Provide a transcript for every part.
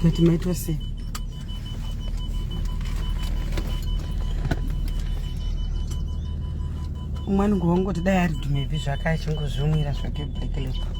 Kati maitwa sei? Umwe anongova ngoti dai ari dhumebhi zvake achingozvimwira zvake black label.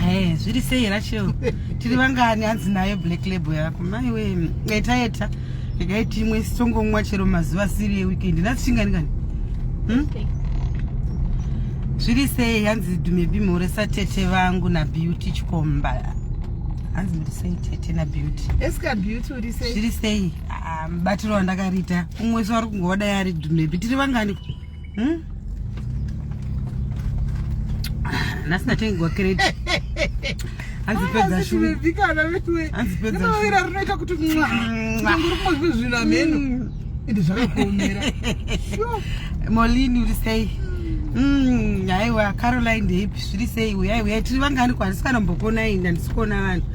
Hey, zviri sei Rachel? Tiri vangani hanzi nayo black label yako? Mai we, eta eta. Regai timwe sitongomwa chero mazuva asiri yeweekend. Nhasi chingani kani? Hmm? Zviri sei hanzi dume bimhore satete vangu na beauty chikomba. Hanzi muri sei tete na beauty? Eska beauty uri sei? Zviri sei? Ah, mubatiro wandakariita. Umwe so ari kungoda yari dume. Tiri vangani? Hmm? nhasi ndatengwa kredi anzipedzaaira rinoita kuti mwaangurikumazve zvinhu ameno hmm. ende zvakakuomera molini uri sei hmm, aiwa caroline ndeipi zviri sei uyai uyai tiri vangani ko handisi kana mbokonai ndandisi kuona vanhu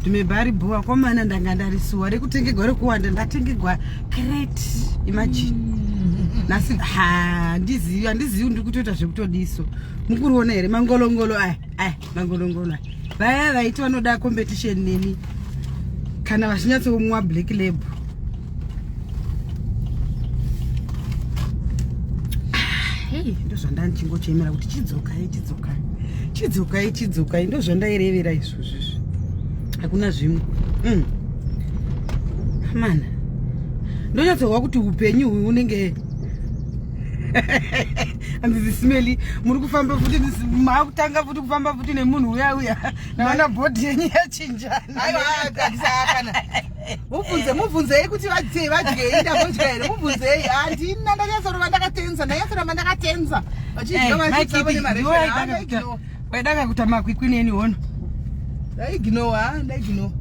ndimebari bhuwa komana ndanga ndarisuwa rekutengegwa rekuwanda ndatengegwa great imagine mm. nasi handizivi handizivi ndiri kutoita zvekutodiso mukuriona here mangolongolo aya aya mangolongolo aya vaya vaiti vanoda competition neni kana vachinyatsomwa black label hei ndozvandandichingochemera kuti chidzokai chidzokai chidzokai chidzokai ndozvandairevera izvo Zvishi. Hakuna zvimwe. Mm. Mana. Ndonyatsohwa kuti upenyu uyu unenge handizi smeli muri kufamba futi makutanga futi kufamba futi nemunhu uya uya naona bhodhi yenyu yachinjana mubvunze mubvunzei kuti vadye vadyei ndambodya here mubvunzei handina ndanyasorova ndakatenza ndanyasorova ndakatenza vachidya vachiavo nemareo Waida kakuta makwikwi neni hono. Ndaiginowa, ah, ndaiginowa.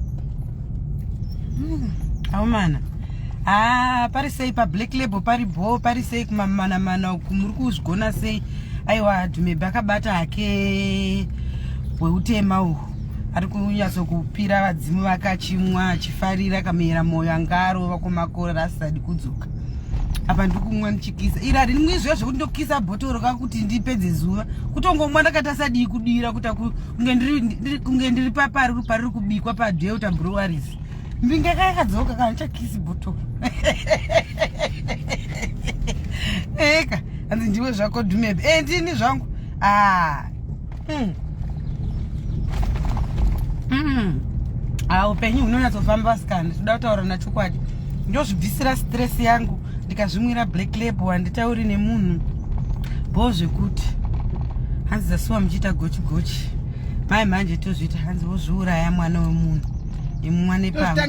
Hmm, aumana. Ah, pari sei pa black label pari bho pari sei kumamana mana uku muri kuzvigona sei? Aiwa Dhumebe akabata hake weutema uhu. Ari kunyatso kupira vadzimu vakachimwa achifarira kamera moyo angarova kumakora asisadi kudzoka. apa ndiri kumwa ndichikisa iri harini mwizviya zvekuti ndokukisa bhotoro ka kuti ndipedze zuva kutongomwa ndakatasa dii kudira kuta kunge ndiri papari pariri kubikwa padeota breweries mbinga ka yakadzoka ka ndichakisi bhotoro eka hanzi ndiwe zvako dhumebe e ndini zvangu aa ah. mm. mm. ah, upenyu hunonyatsofamba vasikana toda kutaura na chokwadi ndozvibvisira stress yangu ndikazvimwira black label handitauri nemunhu bho zvekuti hanzi zasuwa muchiita gochi gochi mai manje tozviita hanzi vozviuraya mwana wemunhu imumwa nepamwe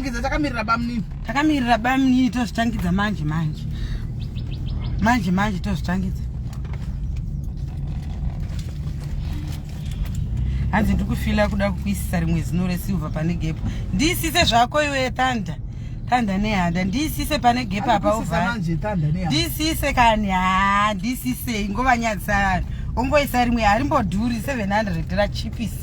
takamirira bamnini tozvitangidza manje manje manje manje tozvitangidza hanzi ndiri kufila kuda kukuisisa rimwe zino resilver pane gepo ndiisise zvako iwe tanda tanda nehanda ndiisise pane gepo apa uvha ndiisise kani haa ndiisisei ngovanyadzisa vanhu ongoisa rimwe harimbodhuri 700 rachipisa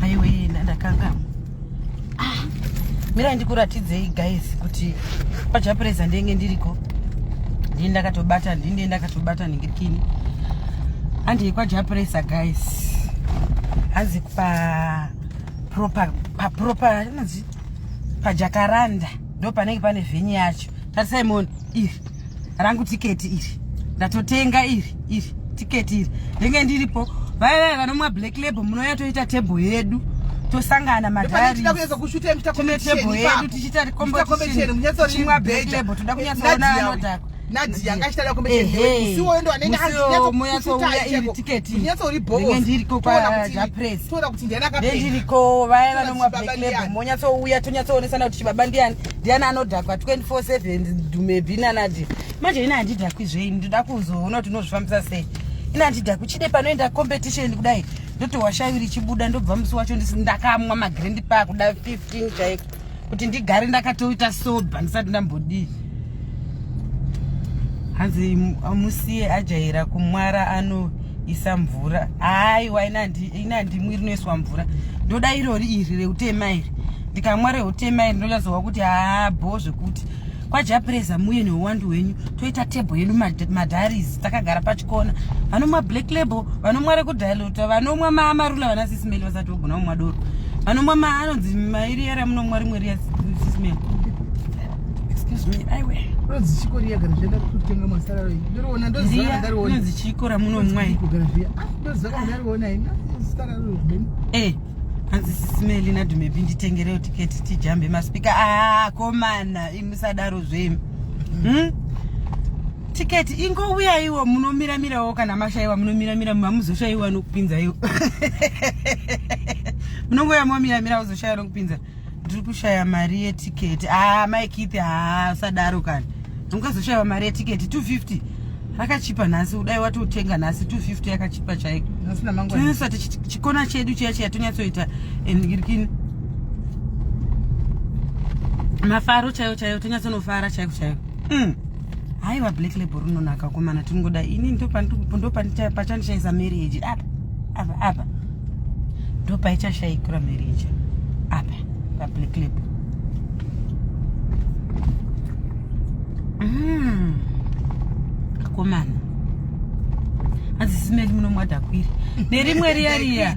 haiwe yena ndakangama ah, mira ndikuratidzei guys kuti pajapureza ndenge ndiriko ndii ndakatobata ndii ndii ndakatobata ningirikini handii kwajapuresa guys hanzi pa proper pa proper inonzi pajakaranda ndo panenge pane vhenyu yacho tarisai moni iri rangu tiketi iri ndatotenga iri iri tiketi iri ndenge ndiripo vaiva vanomwa black label munouya toita table yedu tosangana madaritine table yedu tichiita kombotichimwa black label toda kunyatsoona anodhakwa nadia anga achitaura kombeusiwoyo ndo anenge andinyatsouriboondirikotoona kuti ndiani akaendiriko vaya vanomwa black label monyatsouya tonyatsoonesana kuti chibaba ndiani ndiani anodhakwa 24/7 dhumebi nanadi manje ini handidhakwi zveini ndoda kuzoona kuti unozvifambisa sei ini handidhakwi chide panoenda competition kudai ndotohwa shavi richibuda ndobva musi wacho ndakamwa magrendi paa kuda 15 chaiko kuti ndigare ndakatoita soba ndisati ndambodii hanzi musiye ajaira kumwara ano isa mvura aiwa ina ndimwi rinoiswa mvura ndoda irori iri reutema iri ndikamwa reutema iri ndonyatsowa kuti haa bho zvekuti kwajapureza muye neuwandu hwenyu toita tebho yedu madharis takagara pachikona vanomwa black label vanomwa rekudilota vanomwa mamarula vana sisimeli vasati vogona kumwa doro vanomwa maanonzi mairi yaramunomwa rimwe riya sisimeli Excuse me, aiwe. Ndozi chiko riya kana zvaenda kutenga masara roi. Ndiriona ndozi kana ndariona. Ndozi chiko ramuno mwai. Kugara zviya. Ah, ndozi kana ndariona ina. Sara roi beni. Eh. Hanzi sisimeli na dume bindi tengereo ticket tijambe ma speaker. Ah, komana imusadaro zvemi. Mm. Hmm? Ticket ingo uya iwo munomira mira wo kana mashaiwa munomira mira mamuzoshaiwa nokupinza iwo. Munongo ya momira mira uzoshaiwa nokupinza. ndiri kushaya mari yetiketi haa ah, mai kithi haa ah, usadaro kani ungazoshaiwa mari yetiketi 250 akachipa nhasi udai watotenga nhasi 250 yakachipa chaiko tinonasa tichikona chedu chiya chiya tonyatsoita enirikini mafaro chaiwo chaiwo tonyatsonofara chaiko chaiko mm. haiwa black label rinonaka komana tingoda ini ndopachandishaisa marriage apa apa apa ndopaichashaikura marriage apa pablack label mm. akomana adzisimeli munomwadakwiri nerimwe riya riya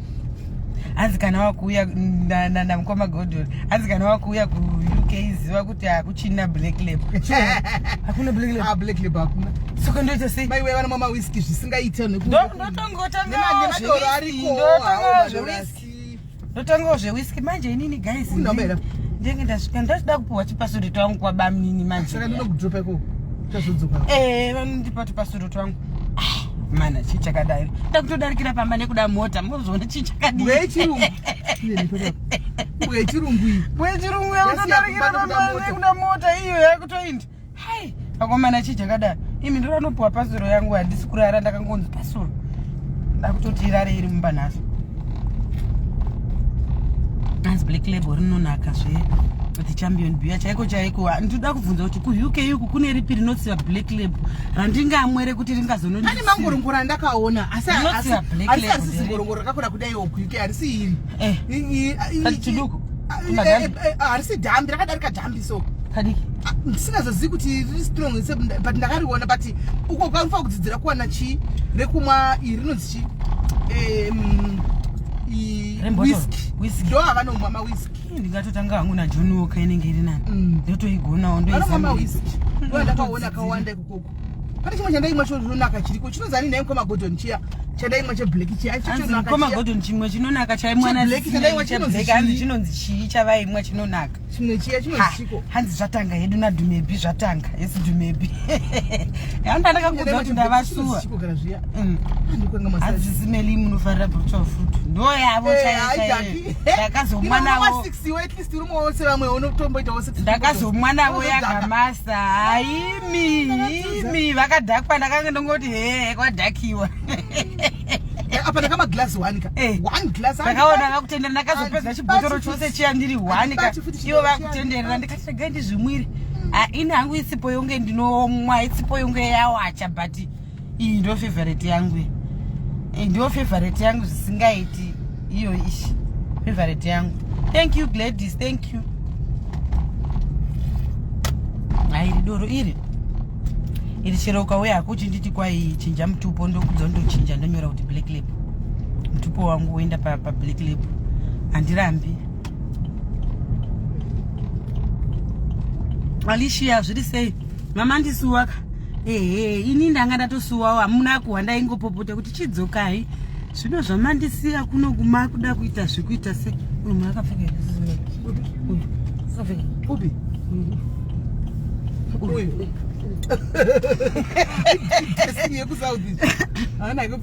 hanzi kana wakuuya namukoma godol hanzi kana wakuuya kuuk ziva kuti hakuchina black lab hakuna black lab ah, black lab hakuna saka ndoita sei mai wevana mama whisky zvisingaita nekunotangawo zvewhisky manje inini guys ndenge ndasvika ndachida kupiwa chipasuri twangu kwabamnini manje saka ndinokudropa ikoko tazodzoka eh vanondipa tupasuri twangu ah, mana chii chakadai ndakutodarikira pamba nekuda mota mozviona chii chakadiiwechirungu wechirungu wechirungu yakutodarikira pamba nekuda mota iyo yakutoindi hai akomana chii chakadai imi ndiranopiwa pasuro yangu handisi kurara ndakangonzi pasuro ndakutoti irare iri mumba nhasi hanzi black label rinonaka zve the champion biya chaiko chaiko ndinoda kubvunza kuti kuuk yuku kune ripi rinotsiva black label randingamwere kuti ringazonondi ane mangorongoro andakaona asi asisisi ngorongoro rakakura kudai okuke harisi iri eh. chiduku eh, eh, harisi dhambi rakadarika dhambi so kadiki ah, ndisingazozivi kuti riri strong but ndakariona but uko kwanofanira kudzidzira kuwana chii rekumwa iri rinonzi chii whisk ndo avanomwa mawisk ndingatotanga hangu najohn woka inenge iri nani mm. ndotoigonawo ndoizandakaona kawanda ikokoko pane chimwe chandaimwa chinonaka chiriko chinonzi ani naye mkoma gordon chiya chandaimwa cheblack chiyamkoma gordon chimwe chinonaka chaimwanachinonzi chinonzi chii chavaimwa chinonaka chimwe chiya chinoziko hanzi zvatanga hedu nadhumebi zvatanga hesi dhumebi andandakakuudza kuti ndavasuwa mm. hanzi zimeli munofarira brutal fruit ndoyavo eh, chaiaii ndakazomwa navo yakamasa haimi imi vakadhakwa ndakanga ndongoti hee kwadhakiwa apa ndaka maglass one ka eh. one glass ndakaona vakutendera ndakazopedza chibhotoro chose chiya ndiri one ka ivo vakutenderera ndikati regai ndizvimwire hmm. ah, ini hangu isipo yonge ndinomwa isipo yonge yawacha but iyi ndo favorite yangu iyi eh, ndo favorite yangu zvisingaiti iyo ishi favorite yangu thank you gladys thank you hairi doro iri iri chero ukauya hako uchinditi kwai chinja mutupo ndokudza ndochinja ndonyora kuti black lab mutupo wangu woenda pablack pa lab handirambi alicia zviri sei mama ndisuwaka ehe ini ndanga ndatosuwawo hamuna kuhwa ndaingopopota kuti chidzokai zvino zvamandisiya kuno kumakuda kuita zvekuita se munhu akapfeka upi uyu yekusaudi haana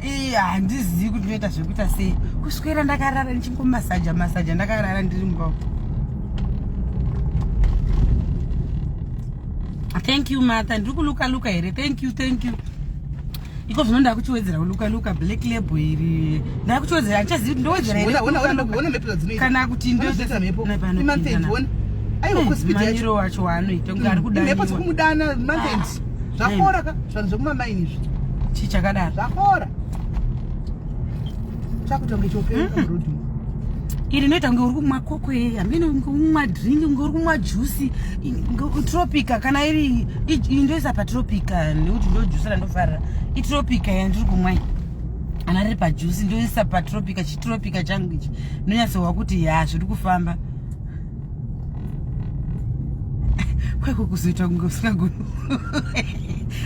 iya handizivi kuti ndoita zvekuita sei kuswera ndakarara ndichingomasaja masaja ndakarara ndiri mumba thank you matha ndiri kuluka luka here thank you thank you iko zvino ndakuchiwedzera kuluka luka black label iri ndakuchiwedzera handichazivi kuti ndowedzera herekana kuti ndoairo wacho waanoita kunge ari kudaiwa zvakora ka zvanhu zvekumamaini izvi chii chakadaro zvakora chakutonge chopera hmm? iri inoita kunge uri kumwa kokwe hameno kunge umwa drink kunge uri kumwa juice tropica kana iri indoisa patropica nekuti ndojuice randofarira itropica yandiri kumwa iyi ana riri pajuice ndoisa patropica chitropica changu ichi ndonyatsohwa kuti ya zviri kufamba kwako kuzoita kunge usingagoni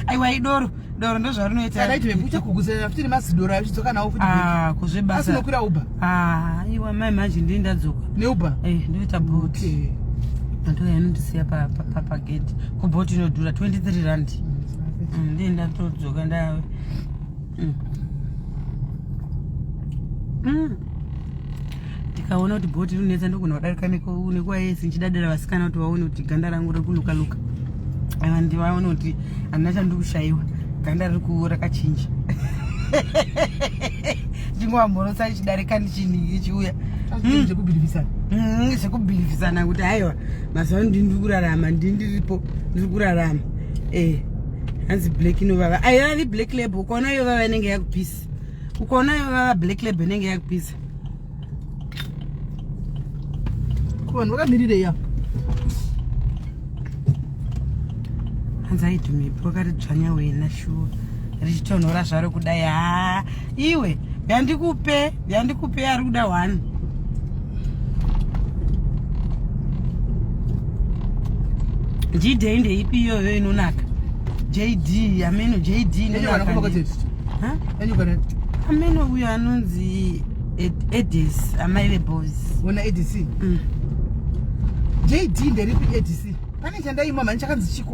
aiwa idoro doro ndozvarinoitakuguzeafutinemazidoraachidzokanawofutiakunokwira ah, uba ah, iwa mai manje ndii ndadzoka neuba eh, ndoita bot antoya inondisiya pagedhi kubot inodhura 23 rand mm, ndii ndatodzoka ndawe mm. mm. ndikaona kuti bhoti rinonetsa ndogona kudarika nekuwa yese ndichidadira vasikana kuti vaone kuti ganda rangu riri kunuka nuka and vaone kuti handina chandiri kushayiwa ganda riri kuora kachinja ndingova mhorosa ichidarika ndichiuya hmm. zvekubhilivisana hmm, zvekubhilivisana kuti haiwa mazuva ndiri kurarama ndiri ndiripo ndiri kurarama ee eh. hanzi black inovava aivavi black label ukaona yovava inenge yakupisa ukaona yovava black label inenge yakupisa vanhu vakamirirei apo hanzi aitumipi wakati dzvanya wena shuwa richitonhora zvaro kudai haa iwe yandikupe yandikupe ari kuda one jd ndeipi iyoyo inonaka jd ameno jd ameno uyo anonzi edis amai veboys ona edc mm. jd nderipi edc pane chandaimwa mani chakanzi chiko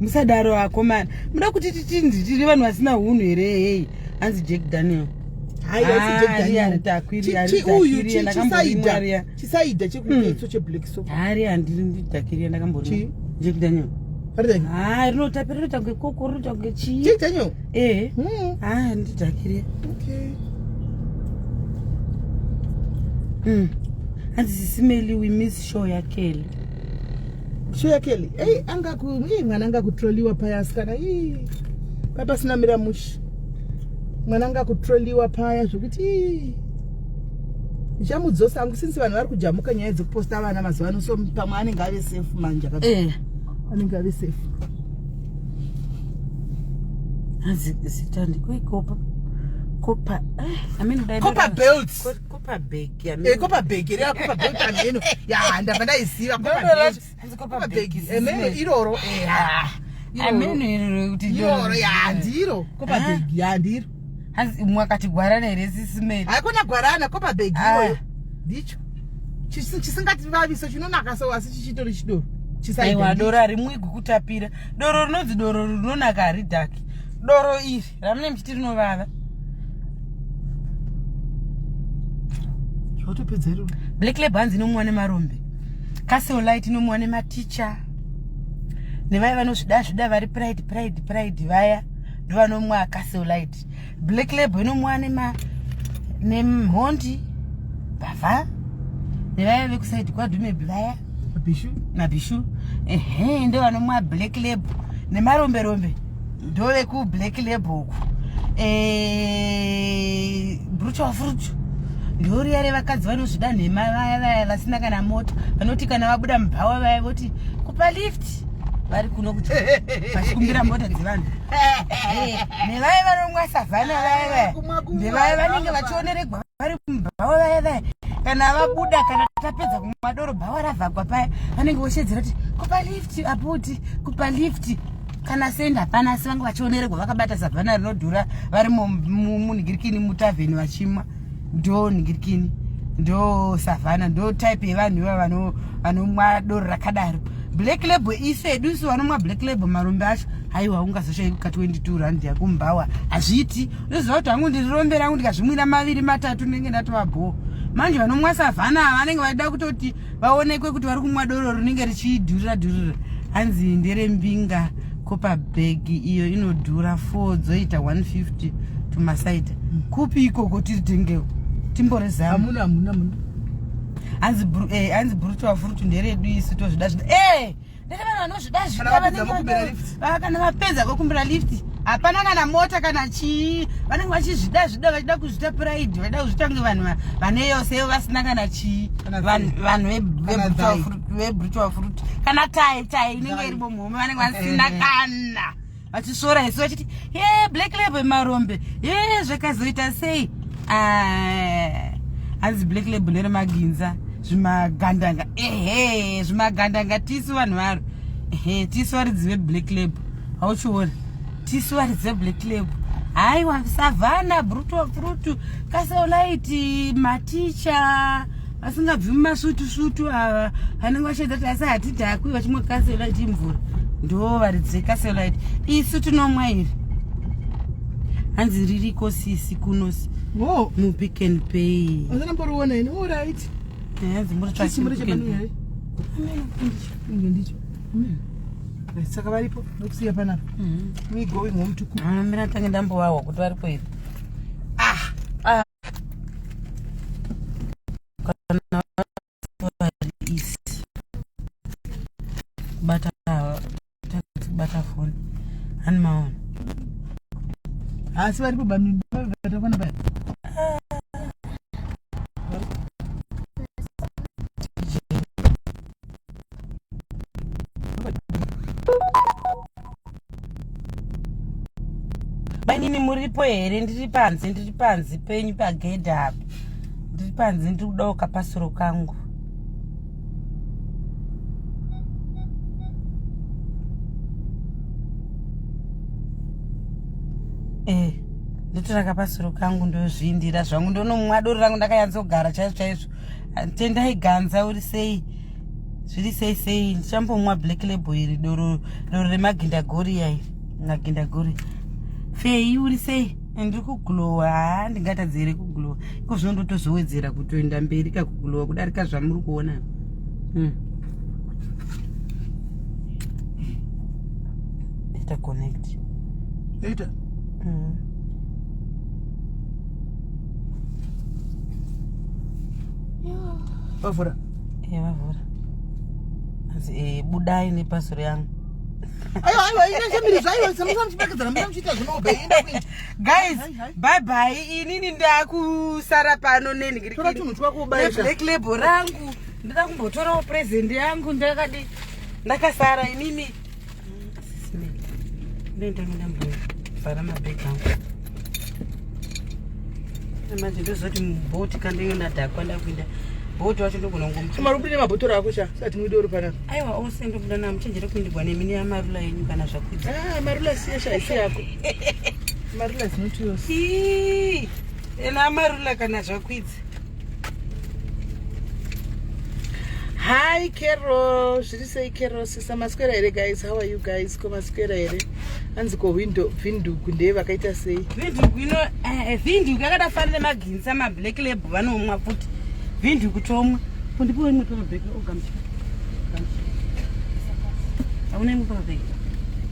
musadaro vakomana muda kuti titindi tiri vanhu vasina hunhu here hei hanzi jack daniel chisaida chekuetso cheblack so hari handiri ndidhakiria ndakambori jack daniel ha rinotapira rinoita kunge koko rinoita kunge chii jack daniel ehe hmm. ha handidhakiria hanzi hmm. sisimeli we miss show yakele Shuya Kelly, hey, anga ku, hey, mwana anga kutroliwa paya asikana, hey, paya pasina mira mushi. Mwana anga kutroliwa paya zvekuti hey. Ndichamudzosa angu since vanhu vari kujamuka nyaya dzekuposta vana mazuva ano so pamwe anenge ave safe manje akati. Eh. Anenge ave safe. Hanzi zita ndiko ikopa. Kopa. Eh, I mean, Kopa belts. kopa bhegi ameno. Eh, kopa bhegi here kopa bhegi ameno ya ndabva ndaiziva kopa Ndono bhegi lati, hanzi kopa kopa bhegi bhegi ameno zine. iroro eh, ah, iroro. ameno iri rekuti iroro ya ndiro kopa Ah. bhegi ya ndiro hanzi umwe akati gwarana here sisimeli haikona gwarana kopa bhegi Ah. iyoyo ndicho Chisi- chisingativaviso chinonaka so asi chichitori chidoro aiwa chisaidha doro harimwigwi kutapira doro rinonzi doro rinonaka haridhaki doro iri ramune mchiti rinovava zvotopedza iro black lab hanzi inomuwa nemarombe castle light inomuwa nematicha nevaya vanozvida zvida vari pride pride pride vaya ndovanomwa castle light black lab inomuwa nema nemhondi bava nevaya vekusaidi kwadhumebi vaya Bishu. Na Bishu. Ehe, ndo vanomwa black label nemarombe rombe ndo veku black label uku. Eh, brutal fruit. Ndoriya revakadzi vanozvida nhema vaya vaya vasina kana mota vanoti kana vabuda mubhawa vaya voti kupa lift vari kuno kuti vachikumbira mota dzevanhu eh, nevaya vanomwa savhana vaya vaya ndevaya vanenge vachioneregwa vari kumba vavo vaya vaya kana vabuda kana tapedza kumwa doro bhawa ravhagwa paya vanenge voshedzera kuti kupa lift aputi kupa lift kana sendi hapana asi vange vachionererwa vakabata savhana rinodhura vari munhigirikini mutavheni vachimwa ndo nhigirikini ndo savhana ndo type yevanhu ivava vanomwa doro rakadaro black label isu edu isu vanomwa black label marombe acho haiwa ungazoshaikuka 22 rand yakumbawa hazviiti ndoziva kuti hangu ndirirombera hangu ndikazvimwira maviri matatu ndinenge ndatova bhoo manje vanomwa savhana ava vanenge vaida kutoti vaonekwe kuti vari kumwa doro rinenge richidhurira dhurira hanzi nderembinga kopa bhegi iyo inodhura four dzoita 150 tumasaida kupi ikoko tiri tengewo timborezamu hanzi eh, brutu wafurutu nderedu isu tozvida zvida ee eh! Ndiri vanhu vanozvida zvida kana vapedza kokumbira lift hapana kana mota kana chii vanenge vachizvida zvida vachida kuzvita pride vachida kuzvita kunge vanhu vane yose vasina kana chii vanhu vebrutual fruit kana tai tai inenge iri bomuhome vanenge vasina kana vachisvora isu vachiti ye black label yemarombe ye zvakazoita sei ah, hanzi black label neremaginza zvimagandanga ehe zvimagandanga tisu vanhu varo ehe tisu varidzi veblack label hauchiona tisu varidzi veblack label haiwa savana brutu brutu kasaulaiti maticha vasingabvi mumasutu sutu ava vanenge vachaita kuti asi hatidhakwi vachimwa kaselite imvura ndo varidzi vekaselite isu tinomwa iri hanzi ririko sisi kunosi wo mupick and pay asanamboriona ini orit hanzi muritsvaindicho saka varipo nokusiya panapa mm-hmm. we going home to cook amira tange ndambovahwa kuti varipo iri kana vadisi kubata kubata foni hani maona asi varipo bamiatakwana baya mainini muripo here ndiri panze ndiri panze penyu pagedhe apa ndiri panze ndiri kudawo kapasuro kangu eh, ndotora kapasuro kangu ndozviindira zvangu ndonomwa doro rangu ndakanyadzogara chaizvo chaizvo tendai ganza uri sei zviri sei sei ndichambomwa black label iri doro doro remagindagori yai magindagori fei uri sei ndiri kuglowa haa ndingatadzi here kuglowa iko zvino ndotozowedzera kutoenda mberi ka kuglowa kudarika zvamuri kuona hmm. ita connect ita mm. vavhura e vavhura asi e budai nepasuro yangu ayo ayo inachamirizvo ayo samusana muchipakedzana muna muchiita zvinobe enda kuita guys bye bye inini ndakusara pano nenhikiritora chinhu chwakubaiblack label rangu ndida kumbotorawo present yangu ndakadi ndakasara inini ndoendange ndambovhara mabhegi angu manje ndozoti mubhoti kandenge ndadhakwa ndakuinda bhoti wacho ndogona kungomumarubine mabhotoro ako cha sati muide uri panapa aiwa ose ndobuda na muchenjere kuindirwa nemini yamarula yenyu kana zvakuita ah, marula siyesha isi yako marula zinoti yose ena amarula kana zvakwidzi Hi Carol, zviri sei Carol sisa maswera here guys? How are you guys? Ko maswera here? Hanzi ko window vindugu ndeye vakaita sei? Vindugu ino eh, eh vindugu yakada fana nemaginsa ma black label vanomwa futi. Vindugu tomwa. Ko ndipo imwe pa bag ogam. Oh, Hauna imwe pa bag.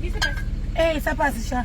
Isa pasi. Eh, isa pasi sha.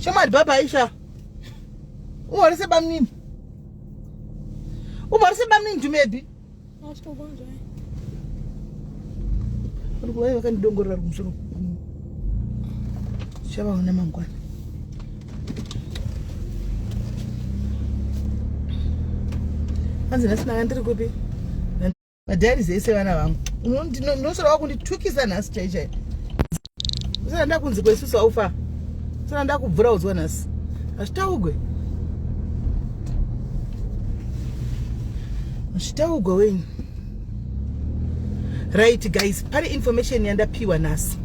Shamari baba Aisha. Uhorise bamnini. Uhorise bamnini tumebi. Ashitokonzwa. Uri kuvaye vakandidongorera kumusoro. Chavaona mangwana. Anzi nhasi nanga ndiri kupi? madiaries ese vana vangu ndinoshora wakunditukisa nhasi chaichai usana ndakunzi kwesusu aufa usana ndakubvura udzwa nhasi hazvitaugwe hazvitaugwe wenyu right guys pane information yandapiwa nhasi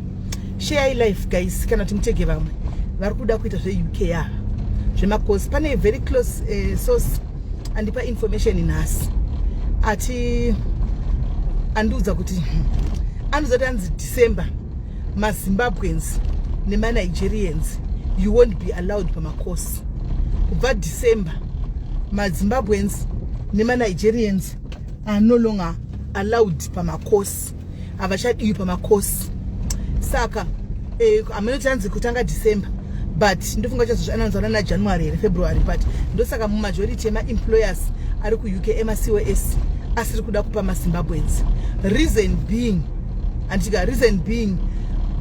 share life guys kana kuti mutege vamwe vari kuda kuita zveuk yava zvemacosi pane very close uh, source andipa information nhasi ati andiudza kuti hmm, andiudza kuti anzi december mazimbabweans nemanigerians you won't be allowed pamacourse kubva december mazimbabweans nemanigerians are no longer allowed pamacourse havachadiwi pamakosi saka eh, hameno eh, chanzi kutanga december but ndofunga chazozviananzana najanuary here february but ndosaka mumajority emaemployers ari kuuk emacos asiri kuda kupa mazimbabwens reason being anditika reason being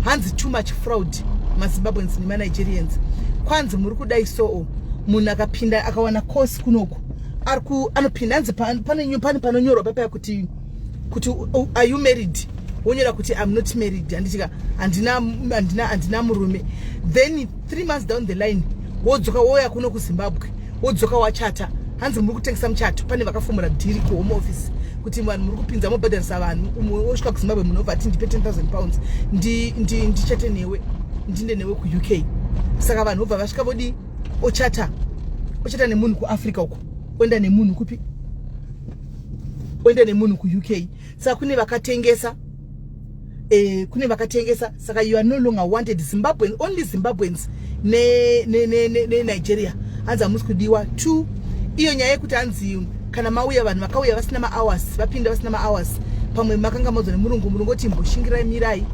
hanzi too much fraud mazimbabwens nemanigerians kwanzi muri kudai soo munhu akapinda akawana course kunoku anopinda hanzi pane panonyorwa papaya kuti kuti oh, are you married wonyora kuti im not married handitika handina murume then three months down the line wodzoka wouya kuno kuzimbabwe wodzoka wachata hanzi muri kutengesa muchato pane vakafomora dhiri kuhome office kuti vanhu muri kupinza mobhadharisa vanhu umwe wosvika kuzimbabwe munobva ati ndipe 10000 pounds ndichate newe ndinde newe kuuk saka vanhu vobva vasvika vodi ochata ochata nemunhu kuafrica uko oenda nemunhu kupi oenda nemunhu kuuk saka kune vakatengesa eh, kune vakatengesa saka you are no longer wanted zimbabwean only zimbabweans nenigeria hanzi hamusi kudiwa two iyo nyaya yekuti hanzi kana mauya vanhu vakauya vasina mahours vapinda vasina mahours pamwe makanga modzwa nemurungu murungu oti imboshingirai mirai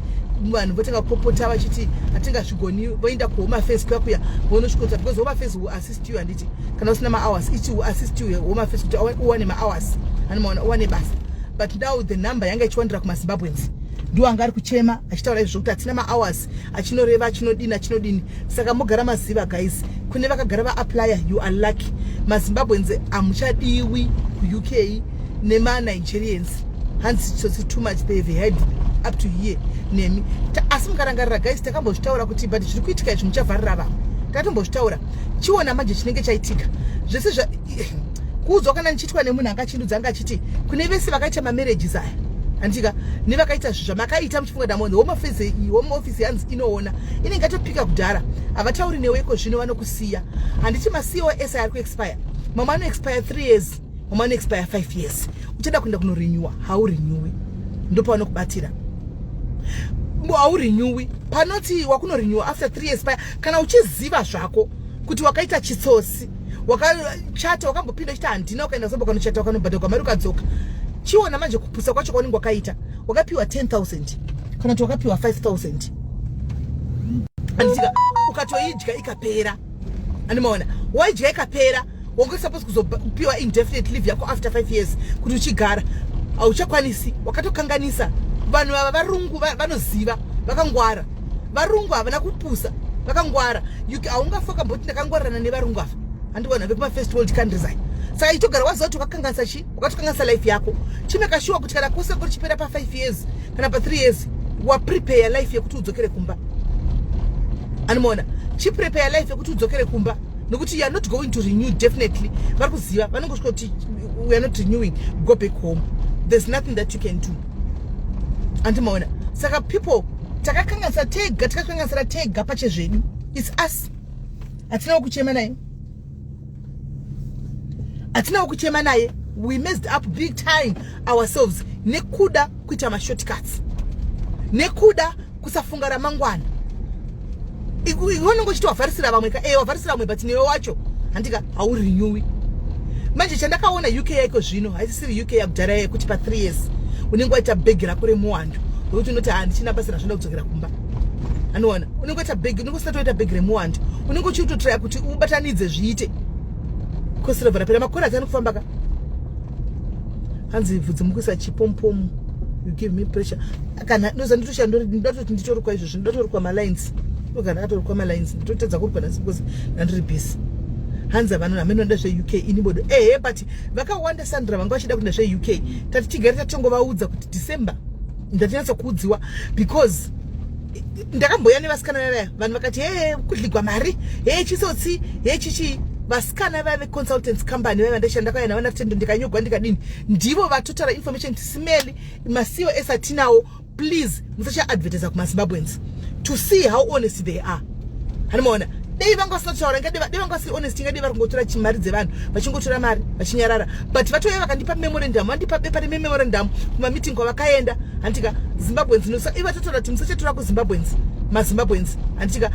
vanhu votanga kupopota vachiti hatingazvigoni voenda kuhomafes kuya kuya vonosvikota because homafes will assist you and assist kana usina mahours ichi uassist uye home affairs kuti uwane mahours anomaona uwane basa but now the number yanga ichiwandira kumazimbabweans ndiwo anga ari kuchema achitaura izvo zvekuti hatina mahours achinoreva achinodini achinodini saka mogara maziva guys kune vakagara vaapplyr you are lucky mazimbabweans hamuchadiwi kuuk nemanigerians hanzi tsotsi too much they have had up to here nemi asi mukarangarira guys takambozvitaura kuti but zviri kuitika izvi muchavharira vanhu tatombozvitaura chiona manje chinenge chaitika zvese zva kuudzwa kana ndichiitwa nemunhu akachindudza anga achiti kune vese vakaita mamarriages aya handitika nevakaita zvi zvamakaita muchifunga kuti amonzi homofisi homeofisi hanzi inoona inenge atopika kudhara havatauri neweko zvino vanokusiya handiti macosi ari kuexpire mamwe anoexpire three years home anoexpire 5 years uchada kuenda kunorenewa haurenewi ndopavanokubatira haurenewi panoti wakunorenewa after 3 years paya kana uchiziva zvako kuti wakaita chitsotsi wakachata wakambopinda uchiti handina ukaenda zombo kanochata wakanobhadha kwamari ukadzoka chiona manje kupusa kwacho kwaunenge wakaita wakapiwa 10000 kana kuti wakapiwa 5000 anditika ukatoidya ikapera andimaona waidya ikapera wanga supposed kuzopiwa indefinite leave yako after five years kuti uchigara hauchakwanisi wakatokanganisa vanhu ava varungu vanoziva vakangwara varungu havana kupusa vakangwara haungafakamboti ndakangwarana nevarungu ava handiona vekumafirst world countries aya saka itogara waziva kuti wakakanganisa chii ukatokanganisa life yako chimeka shuwa kuti kana kose kuri chipera pa 5 years kana pa 3 years waprepare life yekuti udzokere kumba animoona chiprepare life yekuti udzokere kumba nokuti youare not going to renew definitely vari kuziva vanongosvika kuti weare not renewing go back home there's nothing that you can do andimaona saka people takakanganisa tega tikakanganisira tega pache zvedu its us hatinawo kuchema naye hatina kuchema naye we messed up big time ourselves nekuda kuita mashortcuts nekuda kusafunga ramangwana iwonenge uchiti wavharisira vamwe ka e wavharisira vamwe but newe wacho handika haurinyowi manje chandakaona uk yaiko zvino siri uk yakudhara yekuti pa three years unenge waita bhegi rako remuwandu rokuti unoti handichina basa razvinoda kudzokera kumba anoona unenge waita bhegi unenge usina toita bhegi remuwandu unenge uchiri kutotraya kuti ubatanidze zviite kosirovhera pera makore ati anokufamba ka hanzi vhudzi mukuisa chipompomu you give me pressure kana ndoza nditoshandatoti nditorukwa izvozvi ndatorukwa malines ndogara atorukwa malines nditotadza kurukwa nasi because ndandiri busy hanzi havanoda hamenoda zveuk ini bodo ehe but vakawanda sandra vanga vachida kuenda zveuk tati tigare tatongovaudza kuti december ndatinatsa kuudziwa because ndakamboya nevasikana vavaya vanhu vakati hee kudligwa mari hee chisotsi hee chichii vasikana vave consultants company vaiva ndashanda kwaya navana tendo ndikanyogwa ndikadini ndivo vatotara information tisimeli masiwo esatinawo please musacha advertiser kuma Zimbabweans to see how honest they are hanimaona dei vanga vasina kutaura ngade dei vanga vasiri honest ngade vari kungotora mari dzevanhu vachingotora mari vachinyarara but vatouya vakandipa memorandum vandipa bepa rememorandum kuma meeting kwavakaenda handitika Zimbabweans nosa iva tatotora kuti musachatora ku Zimbabweans mazimbabweans handitika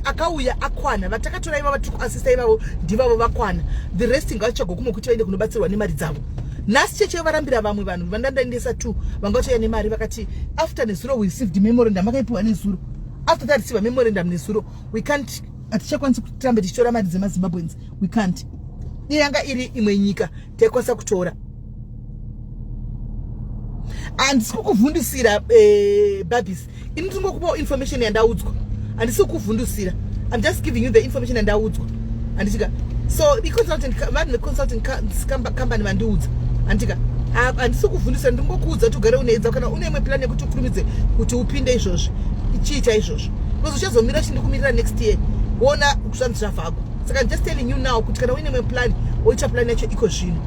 akauya akwana vatakatora ivavo tiri kuasista ivavo ndivavo vakwana the resting vachagokumo kuti vaende kunobatsirwa nemari dzavo nhasi chechi yovarambira vamwe vanhu vandandaendesa two vanga vachauya nemari vakati after nezuro we received memorandum vakaipiwa nezuro after that receiva memorandum nezuro we can't hatichakwanisi kutirambe tichitora mari dzemazimbabweans we can't iyanga iri imwe nyika taikwanisa kutora handisi kukuvhundisira eh, babis ini ndingokupawo information yandaudzwa handisi kukuvhundusira i'm just giving you the information yandaudzwa handitika so iconsultant vanhu veconsultant company vandiudza handitika handisi kuvhundusira ndingokuudza kuti ugare uneedza kana une imwe plan yekuti ukurumidze kuti upinde izvozvi chii chaizvozvo because uchazomira chindikumirira next year wona zvanzi zvavako saka just telling you now kuti kana uine imwe plan oita plan yacho iko zvino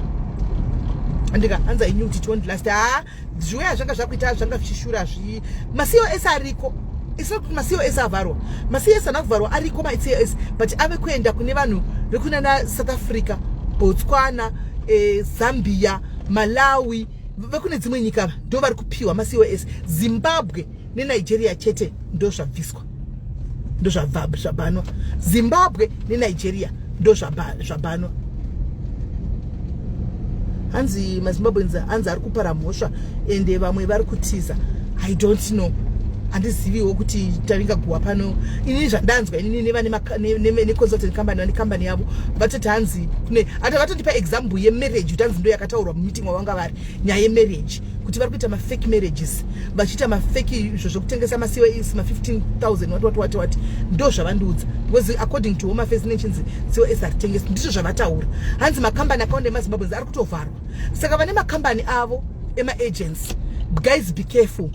andika hanzi i knew kuti it won't last haa ah, zviuya zvanga zvakuita zvanga zvichishura zvi masiyo ese ariko isina kuti masiyo ese avharwa masiyo ese ana kuvharwa ariko maitsiyo ese but ave kuenda kune vanhu vekunana south africa botswana e, zambia malawi vekune dzimwe nyika ndo vari kupiwa masiyo ese zimbabwe nenigeria chete ndo zvabviswa ndozvabanwa zimbabwe nenigeria ndozvabanwa hanzi mazimbabweans hanzi ari kupara mhosva ende vamwe vari kutiza i don't know handiziviwo kuti tavinga guwa pano inini zvandanzwa inini nevaneconsultant company vane company yavo vatoti hanzi kune hata vatondipa example yemarriage utanzi ndo yakataurwa mumeeting wavanga vari nyaya yemarriage kuti vari kuita mafake marriages vachiita mafake izvo zvokutengesa macos ma15000 wati wati wati wati ndo zvavandiudza because according to home affairs nechinzi cos hatitengesi ndizvo zvavataura hanzi makambani akawanda emazimbabweans ari kutovharwa saka vane makambani avo emaagents guys be careful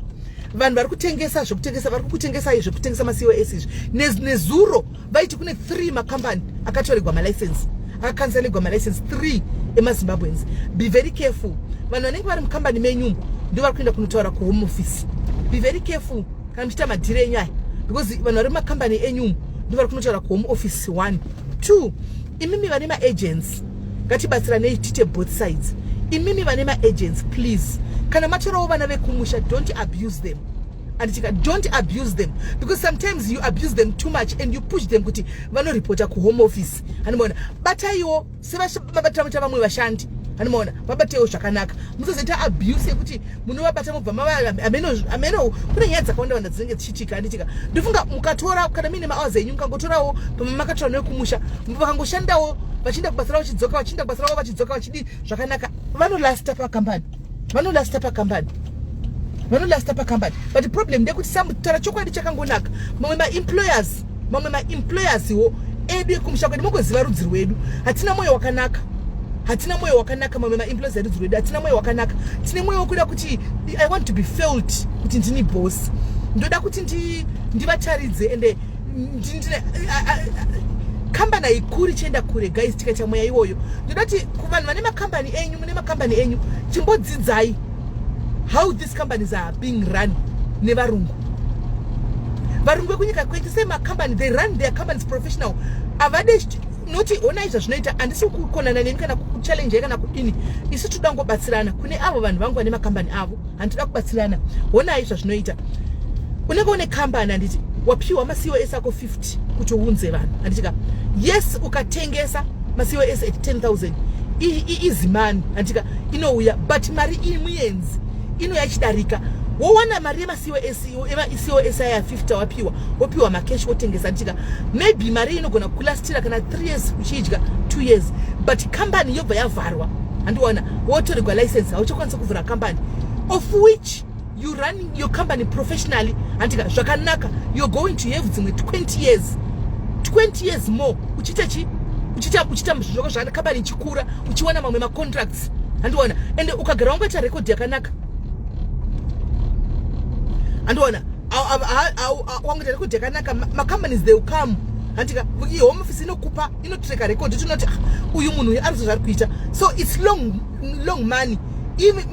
vanhu vari kutengesa zvekutengesa vari kukutengesai zvekutengesa macos izvi nezuro ne vaiti kune three makambani akatoregwa malicense akakanzalegwa malicense three emazimbabweans be very careful vanhu vanenge vari mukambani menyu ndo vari kuenda kunotaura kuhome office be very careful kana muchiita madhiri enyu aya because vanhu vari mumakambani enyu ndo vari kunotaura kuhome office one two imimi vane maagents ngatibatsiranei tiite both sides imimi vane maagents please kana matorawo vana vekumusha don't abuse them andichika don't abuse them because sometimes you abuse them too much and you push them kuti vanoripota kuhome office hanimaona bataiwo sevabatamaita vamwe vashandi hanimaona vabatewo zvakanaka musazoita abuse yekuti munovabata mobva mavaameno kune nyaya dzakawanda wanda dzinenge dzichitika anditika ndofunga mukatora kana muine maours enyu mukangotorawo pamwe makatora newekumusha vakangoshandawo vachienda kubasa ravo vachidzoka vachienda kubasa ravo vachidzoka vachidii zvakanaka vanolasta pakambani vanolasta pakambani vanolasta pakambani but problem ndekuti samutaura chokwadi chakangonaka mamwe maemployers mamwe maemployers wo edu ekumusha kwedu mongoziva rudzi rwedu hatina mwoyo wakanaka hatina mwoyo wakanaka mamwe maemployers erudzi rwedu hatina mwoyo wakanaka tine mwoyo wokuda kuti i want to be felt kuti ndini boss ndoda kuti ndivataridze ndi ende kambani haikuri chienda kure guys tikaita mweya iwoyo ndoda kuti kuvanhu vane makambani enyu mune makambani enyu chimbodzidzai how these companies are being run nevarungu varungu vekunyika kwedu se makambani they run their companies professional avade noti honai zvazvinoita handisi kukonana neni kana kuchallenjai kana kudini isu toda kungobatsirana kune avo vanhu vangu vane makambani avo handitoda kubatsirana honai zvazvinoita unenge une kambani handiti wapiwa masiwo ese ako 50 kuti uunze vanhu handitika yes ukatengesa masiwo ese at 10000 izimani handitika inouya but mari iyi muyenzi inouya ichidarika wowana mari yemasiwo ese isiwo ese aya 50 wapiwa wopiwa makeshi wotengesa handitika maybe mari inogona kulastira kana 3 years uchiidya 2 years but kambani yobva yavharwa handiona wotorigwa license hauchakwanisa kuvhura kambani of which you running your company professionally handika zvakanaka you're going to have dzimwe 20 years 20 years more uchiita chi uchiita uchiita zvoko zvakana kambani ichikura uchiwana mamwe macontracts handiona ende ukagara wangu aita record yakanaka handiona wangu aita record yakanaka macompanies they will come handika home office inokupa inotreka record tinoti ah, uyu munhu uyu arizo zvari kuita so its long long money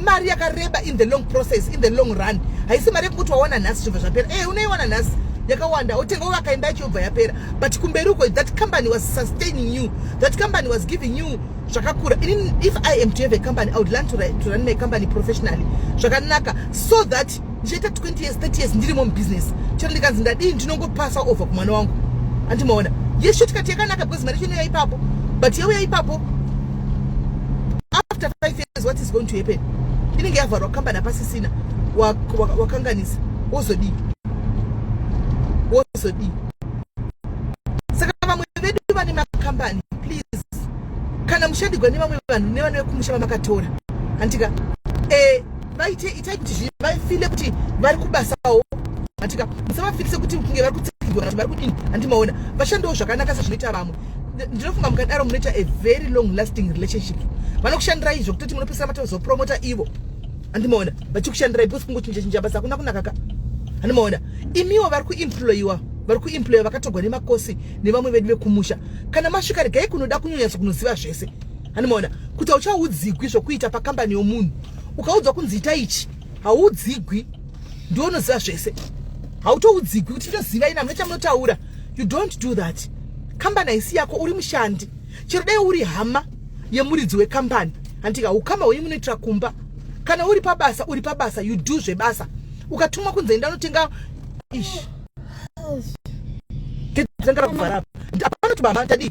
mari yakareba in the long process in the long run haisi mari yekuti wawana nhasi zvobva zvapera e unoiwana nhasi yakawanda otenga uvaka imba yacho yobva yapera but kumberi uko that company was sustaining you that company was giving you zvakakura if i am to have a company i would learn to, to run my company professionally zvakanaka so that ndichaita 20 years 30 years ndirimo mubusiness chero ndikanzi ndadii ndinongopasa over kumwana wangu andimaona ye shortcut yakanaka because mari chino yaipapo but yauya ipapo after five years what is going to happen inenge yavharwa kambani apasisina wakanganisa wozodii wozodii saka vamwe vedu vane makambani please kana mushandigwa nevamwe vanhu nevana vekumusha vamakatora handitika e, eh, vaite itai kuti zvinhu vafile kuti vari kubasawo atika musavafirise kuti kunge vari kutsikidwa kana vari kudini handimaona vashandewo zvakanaka sezvinoita vamwe ndinofunga mukadaro munoita a very long lasting relationship vanokushandirai izvo kutoti munopesera matozopromota ivo handimaona vachikushandirai because kungochinja chinja basa hakuna kunakaka handimaona imiwo vari kuemployiwa vari kuemploya vakatogwa nemakosi nevamwe vedu vekumusha kana masvika regai kunoda kunyanyatso kunoziva zvese handimaona kuti hauchaudzigwi zvokuita pakambani yomunhu ukaudzwa kunzi ita ichi haudzigwi ndiwo unoziva zvese hautoudzigwi kuti ndoziva ina munoita munotaura you don't do that kambani haisi yako uri mushandi chero dai uri hama yemuridzi wekambani handika ukama hwenyu munoitira kumba kana uri pabasa uri pabasa you do zvebasa ukatumwa kunze enda unotenga ish ndakavhara apanoti baba tadii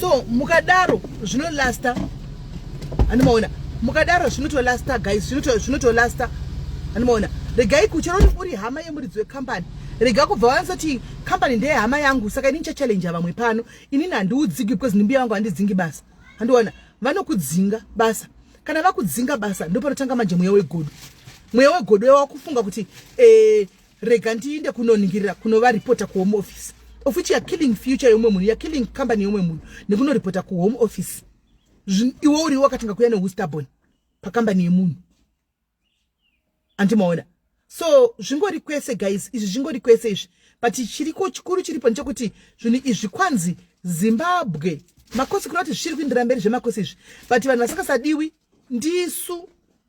so mukadaro zvinolasta andimaona mukadaro zvinotolasta guys zvinotolasta andimaona regai kuchero uri hama yemuridzi wekambani rega kubva vanzoti kambani ndeye hama yangu saka ini ndichachallenja vamwe pano inini handiudzigi because ndimbiya vangu handidzingi basa handiona vanokudzinga basa kana vakudzinga basa ndopanotanga manje mweya wegodo mweya wegodo wakufunga kuti eh, rega ndiinde kunoningirira kunovaripota kuhome office of which you're killing future yeumwe munhu you're killing company yeumwe munhu nekunoripota kuhome office iwe uriwo wakatanga kuya neustabon pakambani yemunhu andimaona so zvingori kwese guys izvi zvingori kwese izvi but chiriko chikuru chiripo ndechekuti zvinhu izvi kwanzi zimbabwe makosi kuda kuti zvichiri kuindira mberi zvemakosi izvi but vanhu vasingasadiwi ndisu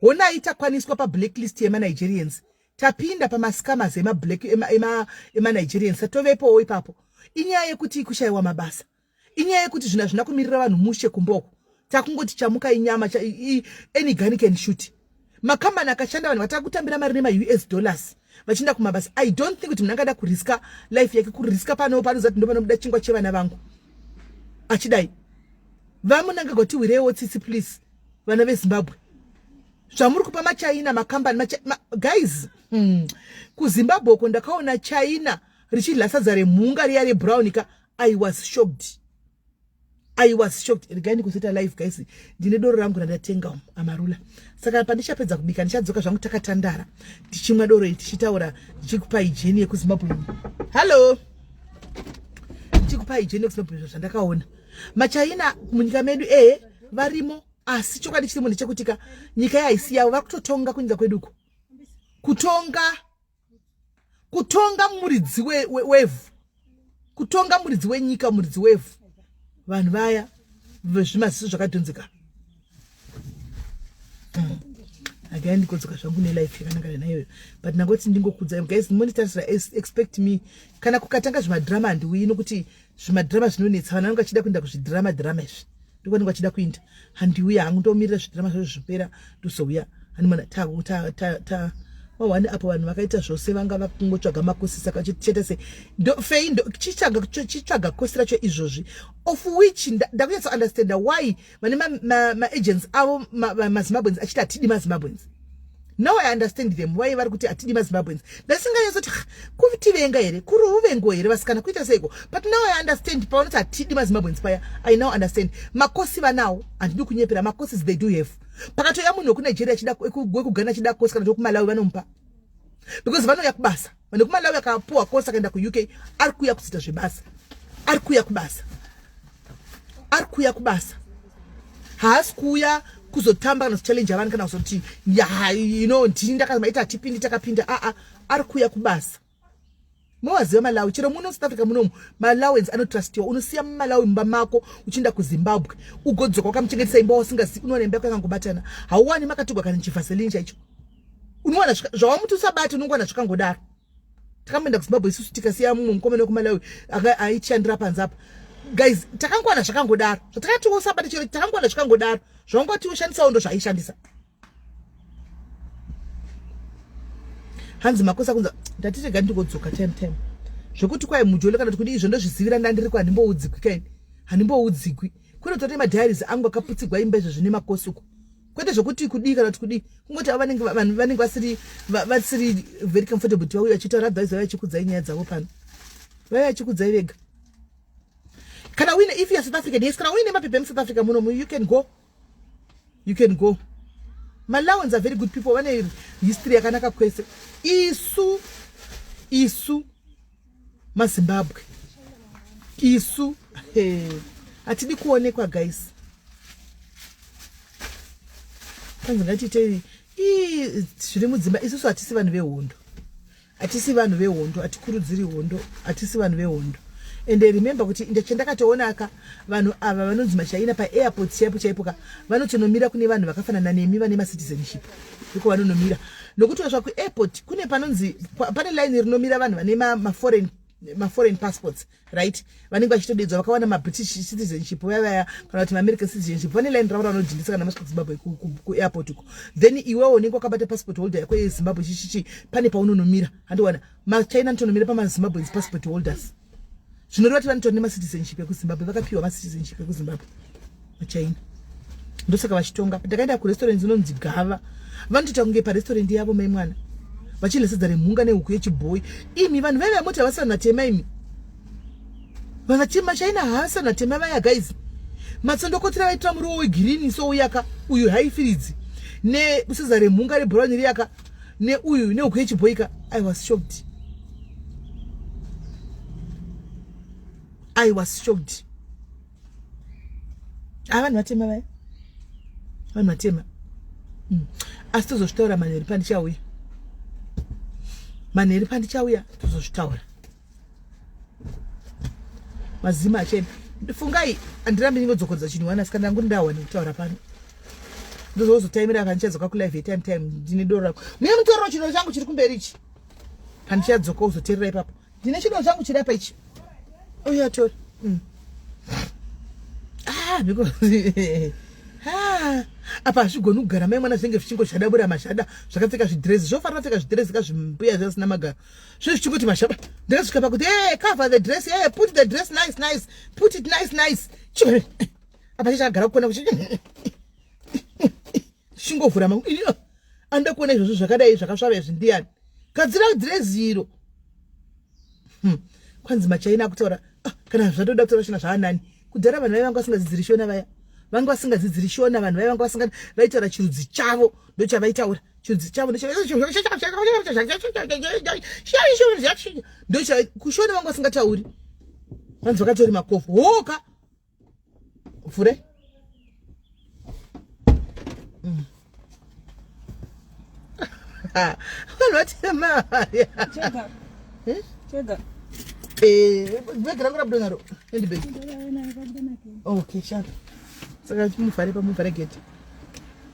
Honai takwaniswa pa blacklist yema Nigerians. Tapinda pama scammers ema black ema ema, ema Nigerians. Tatovepowo ipapo. Inyaya yekuti kushaiwa mabasa. Inyaya yekuti zvina zvina kumirira vanhu mushe kumboko. Takungoti chamuka inyama cha, i, any gun can shoot. Makambani akashanda vanhu vatakutambira mari nema US dollars vachienda kumabasa. I don't think kuti munhu angada kuriska life yake kuriska pano panozati ndopanobuda chingwa chevana vangu. Achidai. Vamunangagwa tiwirewo tsitsi please. vana vezimbabwe zvamuri kupa machina makambani macha, ma, guys hmm. kuzimbabwe uko ndakaona china richidla sadza remhunga riya rebrown ka i was shocked i was shocked regai ndikuseta live guys ndine doro rangu randatenga um, amarula saka pandichapedza kubika ndichadzoka zvangu takatandara tichimwa doro iri tichitaura ndichikupa ijeni yekuzimbabwe hallo ndichikupa ijeni yekuzimbabwe zvandakaona machina munyika medu ee eh. varimo asi chokwadi chirimo ndechekuti ka nyika yahaisi yavo vari kutotonga kunyika kwedu uko kutonga kutonga muridzi wevhu kutonga muridzi wenyika muridzi wevhu vanhu vaya vezvimaziso zvakadhonzeka akaya ndikodzoka zvangu nelife yakananga yanayoyo but nangoti ndingokudza guys monitarisira expect me kana kukatanga zvemadrama handiuyi nokuti zvimadhirama zvinonetsa vanhu vanenge vachida kuenda kuzvidhira madhirama izvi ndiko vanenge vachida kuinda handiuya hangu ndomirira zvidhirama zvacho zvipera ndozouya hanimana ta wawani apo vanhu vakaita zvose vanga vakungotsvaga makosi saka chete se fei chitsvaga kosi racho izvozvi of which ndakunyatso understanda why vane maagents ma, ma avo mazimbabweans ma achiti hatidi mazimbabweans now i understand them why vari kuti hatidi mazimbabweans ndasinganyasoti kutivenga here kuri uvengo here vasikana kuita seiko but now i understand pavanoti hatidi mazimbabweans paya i now understand makosi vanawo handidi kunyepera makosi they do have pakatoya munhu wekunigeria wekugana achida kosi kana tokumalawi vanomupa because vanouya kubasa vanhu kumalawi akapuwa kose akaenda kuuk ari kuuya kudzita zvebasa ari kuuya kubasa ari kuuya kubasa haasi kuuya kuzotamba kana kuchallenja vanhu kana kuzoti you know ndini ndakamaita hatipindi takapinda aa ari kuuya kubasa mowaziva malawi chero muno south africa munomu malawens anotrustiwa unosiya mumalawi mumba mako uchienda kuzimbabwe ugodzoka wakamuchengetesa imba wasingazivi unoona imba yako yakangobatana hauwani makatigwa kana chivaselini chaicho unowana zvawamuti usabati unongowana zvakangodaro takamboenda kuzimbabwe isusu tikasiya mumwe mukomana wekumalawi aichishandira panze apa guys takangowana zvakangodaro zvatakati usabati chero takangowana zvakangodaro zvaungati ushandisawo ndo zvaaishandisa hanzi makosa kunza ndatirega ndingodzoka time time zvekuti kwai mujolo kana tikudi izvo ndozvizivira ndandiri kwa handimboudzikwi kaini handimboudzikwi kunotote madiaries angu akaputsigwa imba izvo zvine makosi uko kwete zvekuti kudii kana kuti kudii kungoti avo vanenge vanhu vanenge vasiri vasiri very comfortable kuti vauye vachitaura advise vauye vachikudzai nyaya dzavo pano vauye vachikudzai vega kana uine if you're south african yes kana uine mapepa emusouth africa muno you can go you can go malawans are very good people vane history yakanaka kwese isu isu mazimbabwe isu hatidi kuonekwa guys kwanzi ngatiitei ii zviri mudzimba isusu hatisi vanhu vehondo hatisi vanhu vehondo hatikurudziri hondo hatisi vanhu vehondo and remembe kuti chandakatoona ka vanhu ava vanonzi machaina paairport chaipo chaipo ka vanotonomira kune vanhu vakafanana nemi vane macitizenship ndiko vanonomira nokuti vasvika kuairport kune panonzi pane line rinomira vanhu vane maforeign maforeign passports right vanenge vachitodedzwa vakawana mabritish citizenship vaya vaya kana kuti maamerican citizenship vane line ravo ravanodhindisa kana masvika zimbabwe kuairport uko then iwewo unenge wakabata passport holder yako yezimbabwe chichichi pane paunonomira handiwana machina nditonomira pamazimbabweans passport holders zvinoreva kuti vanotora nemacitizenship ekuzimbabwe vakapiwa macitizenship ekuzimbabwe vachina ndosaka vachitonga ndakaenda kurestaurant inonzi gava vanotoita kunge parestaurant yavo mai mwana vachidya sadza remhunga nehuku yechibhoyi imi vanhu vaive vamoti havasana tema imi vanatema china havasana tema vaya guys matsondokotera vaitora muriwo wegirini souyaka uyu haifiridzi nesadza remhunga rebhurauni riyaka neuyu neuku yechibhoika i was shocked i was shocked a vanhu vatema vaya vanhu vatema hmm. asi tozozvitaura manheri pandichauya manheri pandichauya tozozvitaura mazima achena fungai andirambi ndinodzokoredza chinhu wana sika ndangu ndawa nekutaura pano ndozozotaimira kandichadzoka kulive time time ndine doro rako mune mutorero chinhu changu chiri kumberi ichi kandichadzoka uzoterera ipapo ndine chinhu changu chiri apa ichi uyatori mm. ah, because ah, apa hazvigoni kugara mai mwana zvinenge zvichingoshadabura mashada zvakapfeka zvidrezi zvofanira pfeka zvidrezi kazvimbuya zvasina magaro zve zvichingoti mashamba ndakasvika pakuti e cover the dress e put the dress nice nice put it nice nice chii apa chichagara kukona kuchi chingovhura mangu iyo anoda kuona izvozvo zvakadai zvakasvava izvi ndiyani gadzira dhireziro hmm. kwanzi machaina akutaura ah, kana zvatoda kutaura shona zvaanani kudhara vanhu vaive vanga vasingadzidziri shona vaya vanga vasingadzidziri shona vanhu vaive vanga vasinga vaitaura chirudzi chavo ndochavaitaura chudzi chavo ndokushona vangu vasingatauri vanzi vakatori makofu hoka vhure mm. vanhu vatema bhegi rangu rabuda naro endi bhegi okay shaka saka muvhare pamuvhare geti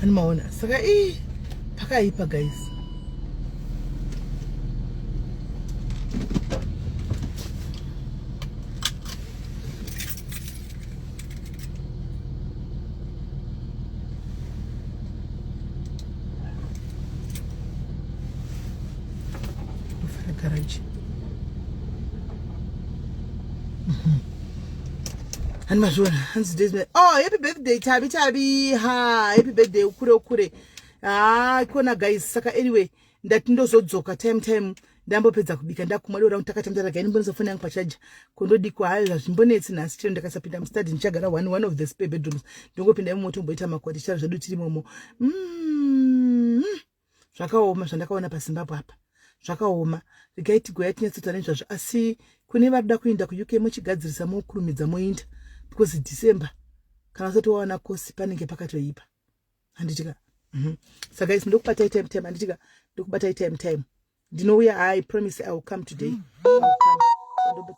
Hani maona saka ii pakaipa guys garage ani mazviona hanzi days oh happy birthday tabi tabi ha happy birthday ukure ukure ha ah, ikona guys saka anyway ndati ndozodzoka time time ndambopedza kubika ndakumwa dora takatandaraga ini mbonisa foni yangu pachaja kundodikwa hayo hazvimbonetsi nhasi chero ndakasapinda mustadi ndichagara one one of the spare bedrooms ndongopinda imomo tomboita makwati charo zvedu tiri momo mm-hmm. zvakaoma zvandakaona pazimbabwe apa zvakaoma regai tigoya tinyatsota nezvazvo asi kune vari da kuinda kuuk mochigadzirisa mokurumidza moinda because december kana usati wawana kosi panenge pakatoipa handiti ka mhm. saka isi ndokubata itime time handiti ka ndokubata itime time ndinouya i promise i will come today mm.